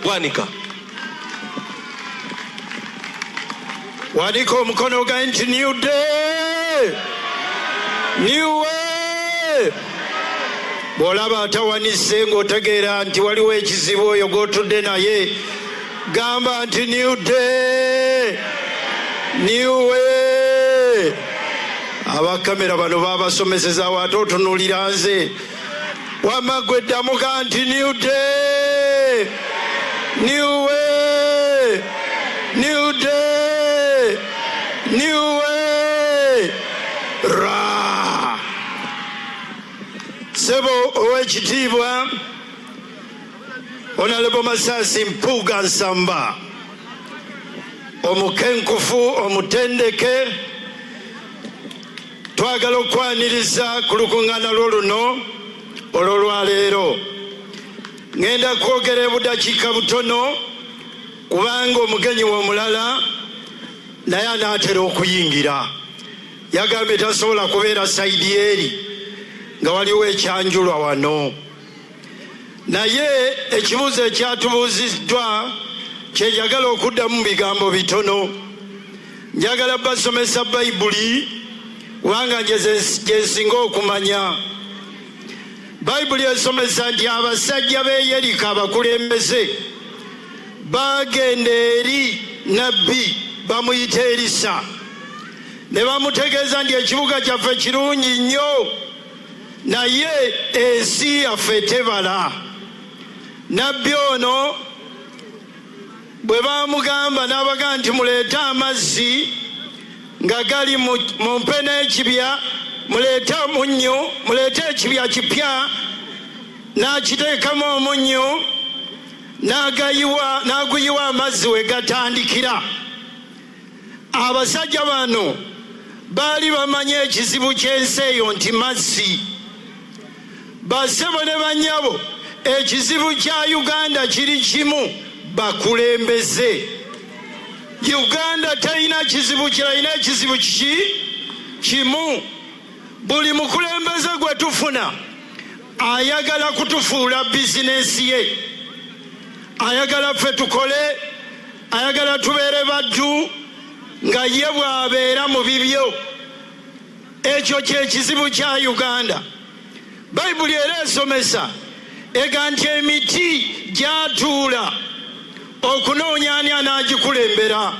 Bwanika. Waliko omukono ogaye nti new day new way bw'olaba atawanise ng'otegeera nti waliwo ekizibu oyo gw'otudde naye gamba nti new day new way abakamera bano babasomeseza waate otunulira nze wamma gwe ddamuka nti new day new way new day new way ra sebo ow'ekitiibwa onalebo masasi mpuuga nsamba omukenkufu omutendeke Twagala okwaniriza ku lukuŋŋaana lwo luno olw'olwaleero. Ŋŋenda kwogera ebudakiika butono kubanga omugenyi we omulala naye anaatera okuyingira. Yagambye tasobola kubeera sayidi eri nga waliwo ekyanjulwa wano. Naye ekibuuzo ekyatubuuziddwa kye njagala okuddamu mu bigambo bitono. Njagala basomesa Bayibuli kubanga nje gye nsinga okumanya. Bayibuli esomesa nti abasajja b'e Yeriko abakulembeze baagenda eri nabbi bamuyita Erisa ne bamutegeeza nti ekibuga kyaffe kirungi nnyo naye ensi yaffe tebala. Nabbi ono bwe baamugamba n'abagamba nti muleete amazzi nga gali mu mpe n'ekibya muleete omunnyu muleete ekibya kipya n'akiteekamu omunnyu n'aguyiwa amazzi we gatandikira Abasajja bano baali bamanyi ekizibu ky'ensi eyo nti mazzi. Bassebo ne bannyabo, ekizibu kya Uganda kiri kimu, bakulembeze. Uganda terina kizibu kirala, ina ekizibu kiki kimu. Buli mukulembeze gwe tufuna ayagala kutufuula bizinensi ye, ayagala ffe tukole ayagala tubeere baddu nga ye bw'abeera mu bibyo ekyo kyekizibu kya uganda bayibuli era esomesa ega nti emiti gyatuula okunoonya ani anaagikulembera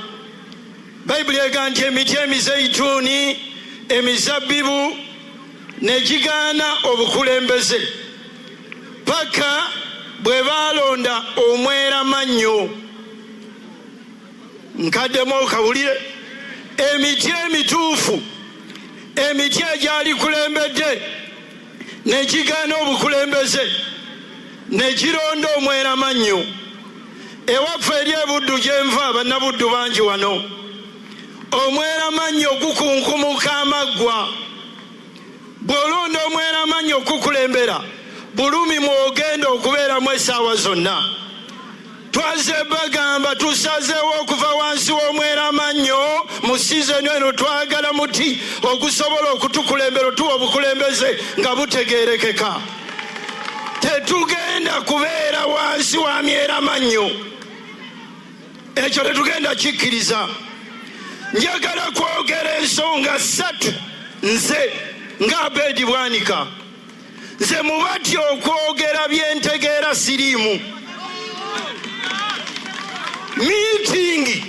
bayibuli ega nti emiti emizeituuni emizabbibu negigaana obukulembeze paka bwe baalonda omwera mannyo nkaddemu okawulire emiti emituufu emiti egyalikulembedde negigaana obukulembeze negironda omwera mannyo ewaffe eri ebuddu gyenva bannabuddu bangi wano omweramannyi ogukunkumuka amaggwa bw'olonda omweramannyi okukulembera bulumi mwogenda okubeeramu essaawa zonna twaze bagamba tusazeewo okuva wansi w'omweramannyo mu sizoni eno twagala muti ogusobola okutukulembera otuwa obukulembeze nga butegerekeka tetugenda kubeera wansi wa myeramannyo ekyo tetugenda kikkiriza njagala kwogera ensonga ssatu nze nga abedi bwanika nze mubatya okwogera byentegeera siriimu miitingi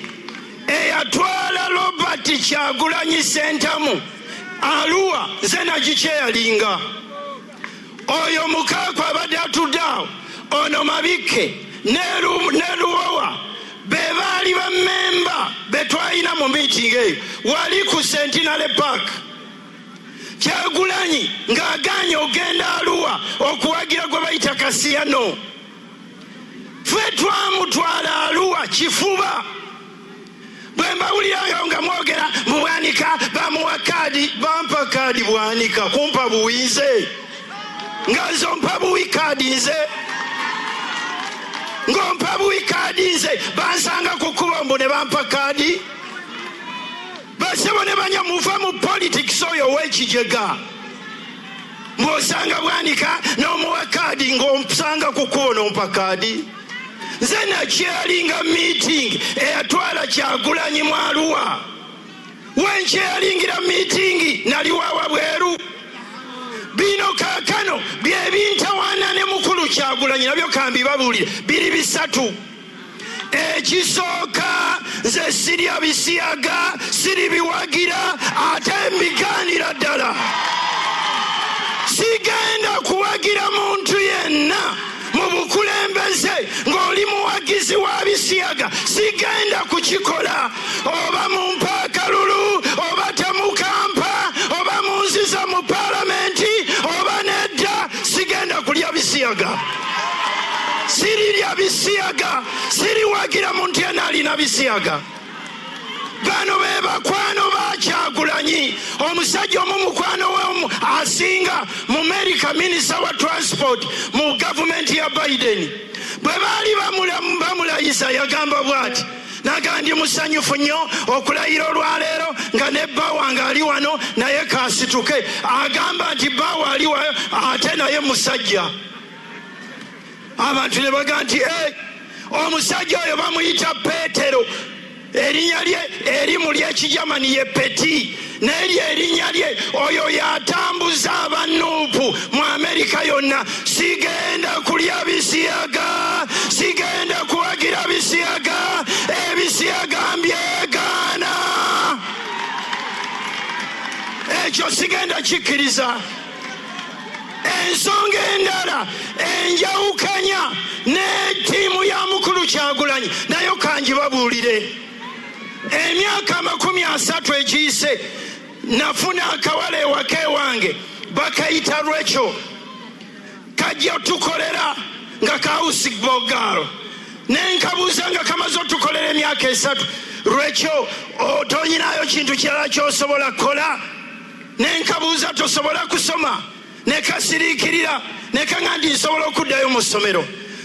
eyatwala robert kyagulanyi sentamu aluwa nze nagikyeyalinga oyo mukaaku abadde atudde awo ono mabikke neluwowa be baali bamemba betwalina mu miitingi eyo wali ku sentinale park kyagulanyi ng'agaanye ogenda aluwa okuwagira gwe bayita kasiyano ffe twamutwala aluwa kifuba bwe mbawulirayo nga mwogera mu bwanika bamuwa kaadi bampa kaadi bwanika kumpa buwi nze nga nze ompa buwi kaadi nze ng'ompa buwi kaadi nze bansanga ku kkubo mbu ne bampa kaadi basebo ne banya muva mu politics oyo ow'ekijega mbw'osanga bwanika n'omuwa kaadi ng'osanga ku kkubo n'ompa kaadi nze nakyalinga meeting eyatwala kyagulanyi mwaluwa wenkyalingira meeting naliwawa bweru bino kakano byebintawana ne mukulu kyagulanyi nabyo kambibabuulire biri bisatu ekisooka nze sirya bisiyaga siri biwagira ate mbigaanira ddala sigenda kuwagira muntu yenna mu bukulembeze ng'oli muwagizi wa bisiyaga sigenda kukikola oba mu mpaakalulu oba temukampa oba mu nziza mu palamenti oba nedda sigenda kulya bisiyaga sirirya bisiyaga siriwagira muntu yena alina bisiyaga bano be bakwano bakyagulanyi omusajja omu mukwano we asinga mu merika minisita wa transport mu gavumenti ya biden bwe baali bamulayiza yagamba bwati naga ndi musanyufu nnyo okulayira olwaleero nga ne bba wange ali wano naye kasituke agamba nti bba waali wayo ate naye musajja abantu ne baga nti e omusajja oyo bamuyita peetero erinya lye erimu lyekijamani ye peti naye lye erinya lye oyo yatambuza abanuupu mu amerika yonna sigenda kulya bisiyaga sigenda kuwagira bisiyaga ebisiyaga mbyegaana ekyo sigenda kikkiriza ensonga endala enjawukanya ne ttiimu ya mukulu kyagulanyi nayo kangibabuulire emyaka amakumi asatu egiyise nafuna akawala ewaka ewange bakayita lwekyo kajja tukolera nga kawusi bogaalo nenkabuuza nga kamaze otukolera emyaka esatu lwekyo otonyinayo kintu kirala kyosobola kukola ne nkabuuza tosobola kusoma ne kasiriikirira ne kaŋa nti nsobola okuddayo mu ssomero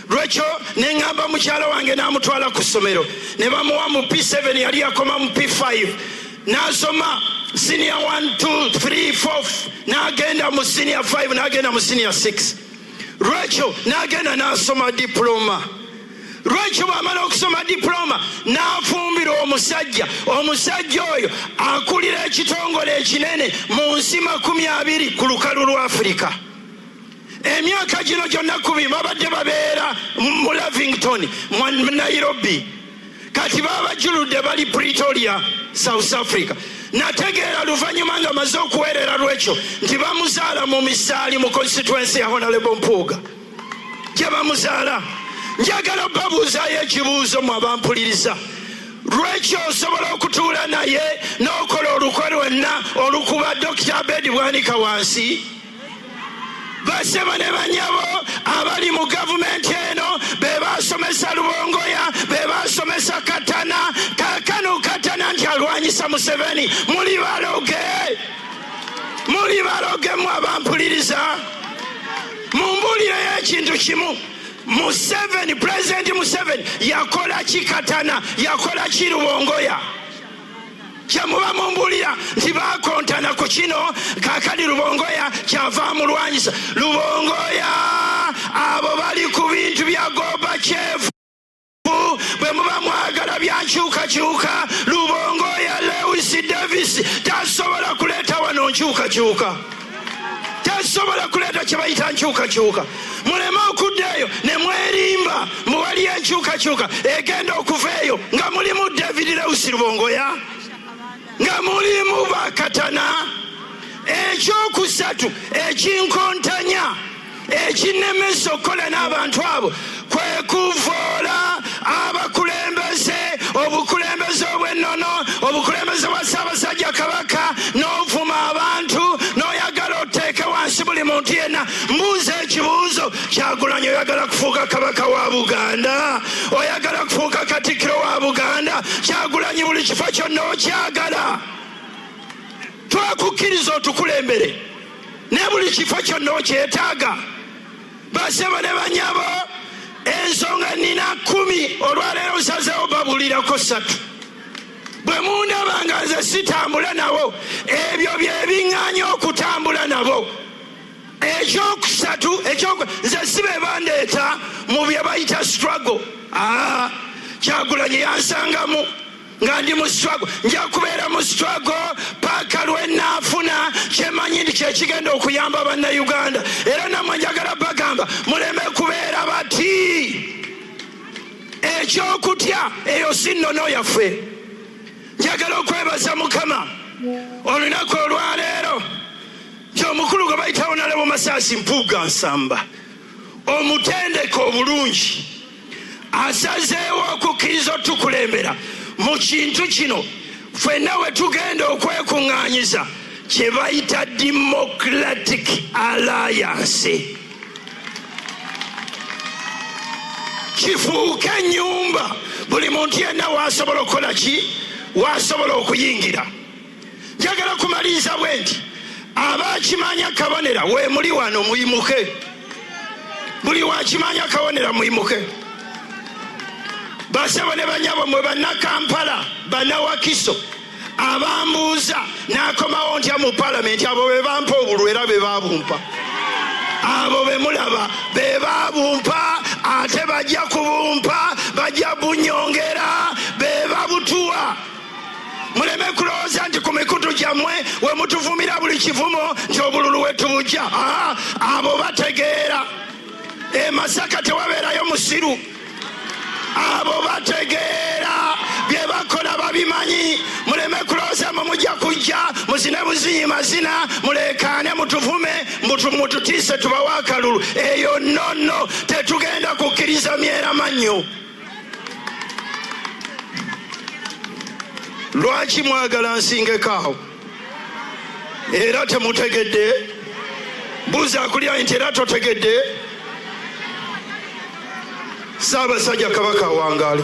lwekyo ne ŋŋamba mukyala wange n'amutwala ku ssomero ne bamuwa mu p7 yali yakoma mu p5 n'asoma siniya 1234 n'agenda mu siniya 5 n'agenda mu siniya 6 lwekyo n'agenda n'asoma dipuloma lwaki bwamala okusoma diploma n'afumbira omusajja omusajja oyo akulira ekitongole ekinene mu nsi makumi abiri ku lukalu lwa afirika emyaka gino gyonna kubi babadde babeera mu lavington mu nairobi kati babajuludde bali pretoria south africa nategeera luvannyuma nga maze okuweerera lwekyo nti bamuzaala mu misaali mu constituensi ya honalebo mpuuga gye bamuzaala njagala babuuzaayo ekibuuzo mu abampuliriza lwekyo osobola okutuula naye n'okola olukwe lwenna olukuba dokita abedi bwanika wansi basebo ne banyabo abali mu gavumenti eno be basomesa lubongoya be basomesa katana kakano katana nti alwanyisa museveni muli baloge muli baloge mu abampuliriza mumbuulireyo ekintu kimu museveni pulezidenti museveni yakola kikatana yakola kirubongoya kyemuba mumbulira nti bakontana ku kino kakali lubongoya kyava mulwanyisa lubongoya abo bali ku bintu bya goba kyevu bwe muba mwagala byankyukakyuka lubongo ya lewis davis tasobola kuleeta wano nkyukakyuka tasobola kuleeta kyebayita nkyukakyuka muleme okudda eyo ne mwerimba muwali enkyukakyuka egenda okuva eyo nga mulimu david lewis lubongoya nga mulimu bakatana ekyokusatu ekinkontanya ekinnemesa okukola n'abantu abo kwe kuvoola abakulembeze obukulembeze obw'ennono obukulembeze bwa ssaabasajja kabaka n'ovuma abantu n'oyagala oteeke wansi buli muntu yenna mbuuza ekibuuzo kyagulanyi oyagala kufuuka kabaka wa buganda oyagala kufuuka katikkiro wa buganda kyagulanyi buli kifo kyonna okyagala twakukkiriza otukulembere ne buli kifo kyonna okyetaaga basebo ne banyabo ensonga nina kumi olwaleero nsazewo babulirako satu bwe mundaba nga nze sitambula nabo ebyo byebiŋŋanya okutambula nabo ekyokusatu nze si be bandeeta mu bye bayita struggle aa ah, kyagulanyi yansangamu nga ndi mu struggle nja kubeera mu struggle paaka lwenaafuna kyemanyi nti kyekigenda okuyamba bannayuganda era namwe njagala bagamba muleme kubeera bati ekyokutya eyo si nnono yaffe njagala okwebaza mukama olunaku olwaleero nti omukulu gwe bayitawo nalebo masaasi mpuuga nsamba omutendeka obulungi asazeewo okukkiriza otukulembera mu kintu kino fenna we tugenda okwekuŋŋaanyiza kye bayita democratic alliance kifuuke ennyumba buli muntu yenna waasobola okukola ki waasobola okuyingira njagala kumaliriza bwe nti abakimanya kabonera wemuli wano muyimuke buli wakimanya kabonera muyimuke basebo ne banyabo mwe bannakampala bannawakiso abambuuza nakomawo ntya mu palamenti abo be bampa obulwa era be babumpa abo be mulaba be babumpa ate bajja kubumpa bajja bunyongera be babutuwa muleme kulowooza nti ku mikutu gyammwe we mutuvumira buli kivumo nti obululu wetubujja ah, abo bategeera e masaka tewabeerayo musiru abo bategeera bye bakola babimanyi muleme kulowooza mwe mujja kujja muzine buzinyi mazina muleekaane mutuvume mututiise tubawa akalulu eyo nonno tetugenda kukkiriza myeramannyo lwaki mwagala nsingeko awo era temutegedde buuza akulya nti era totegedde saabasajja kabaka awangaale